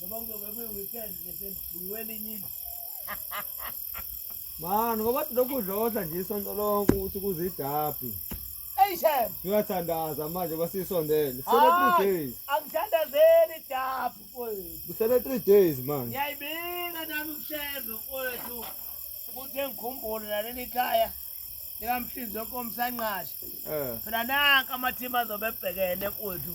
Noma kuzobe kuyi-weekend nje sendidliwe elinye indlu. Mani ngoba lokhu udlodla nje isonto lonke ukuthi kuzidabhi. Hey Shem, Uyathandaza manje basisondele. Kusele Hayi. 3 days. angithandazeli idabhu mfowethu. Kusele 3 days manje. Ngiyayibika nami kuShembe mfowethu ukuthi engikhumbule naleli khaya likamhlinzi wenkomo sanqasha. Eh. Phela nanka amathimu azobe ebhekene mfowethu.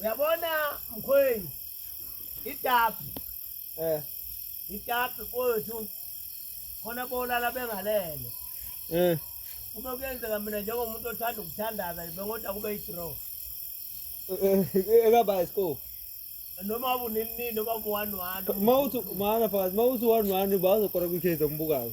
Uyabona mkhweni itapu eh itapu kwethu khona bolala bengalele eh kube kuyenzeka mina njengomuntu othanda ukuthandaza bengoda kube i-draw eh, eh, ekaba isikole noma ubunini nini noma ubu-one one uma uthi maana fakazi uma uthi one one bazokora kwikhezo mbukayo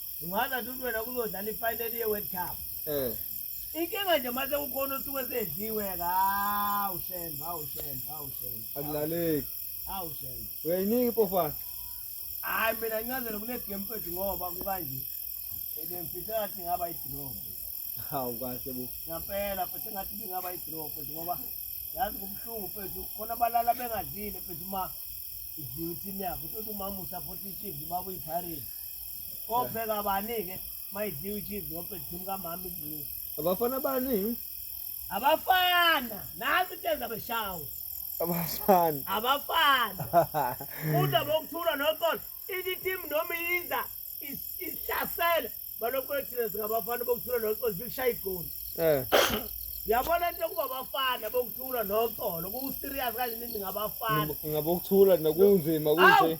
ungazi athi uthi wena kuzodlala ifinali ye-world cup um inkinga nje mase kukhona osuke sedliwe hawu shem hawu shem hawu shem akulaleki hawu shem uyayinika ipofana hhayi mina ngincazele kunegame fethu ngoba kukanje ebengifisa ngathi ngaba idrop hawu kahle bo ngampela futhi ngathi bingaba idrop fethu ngoba yazi kubuhlungu fethu khona abalala bengadlile fethu uma idliwe ithimu yakho uthi uthi umamusa futhi ishidli baba uyipharithi Kopheka bani-ke mayidliwa ichizi ngoba edini kamama idliwe. Abafana bani? Abafana, nazi into enza beshawo. Abafana. Abafana. Kuda bokuthula noxolo, ithi team noma iyiza is- isihlasela balokhu ethina singabafana bokuthula noxolo sikushaya igoli. Eh. Yabona into yokuba abafana bokuthula noxolo, ku-serious kanje niningabafana. Ngabokuthula nakunzima kunje. Awu!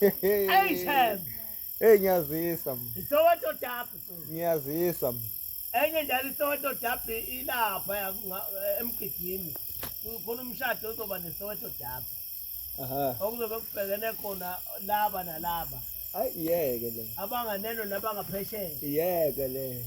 Hey Shem. Hey ngiyazisa mina. Isoweto Derby. Ngiyazisa mina. Enye njalo isoweto Derby ilapha eh, emgidini. Kukhona umshado ozoba nesoweto Derby. Aha. Okuzobe kubhekene khona laba nalaba. Ayiyeke le. Abanganeno nabangaphesheya. Iyeke le.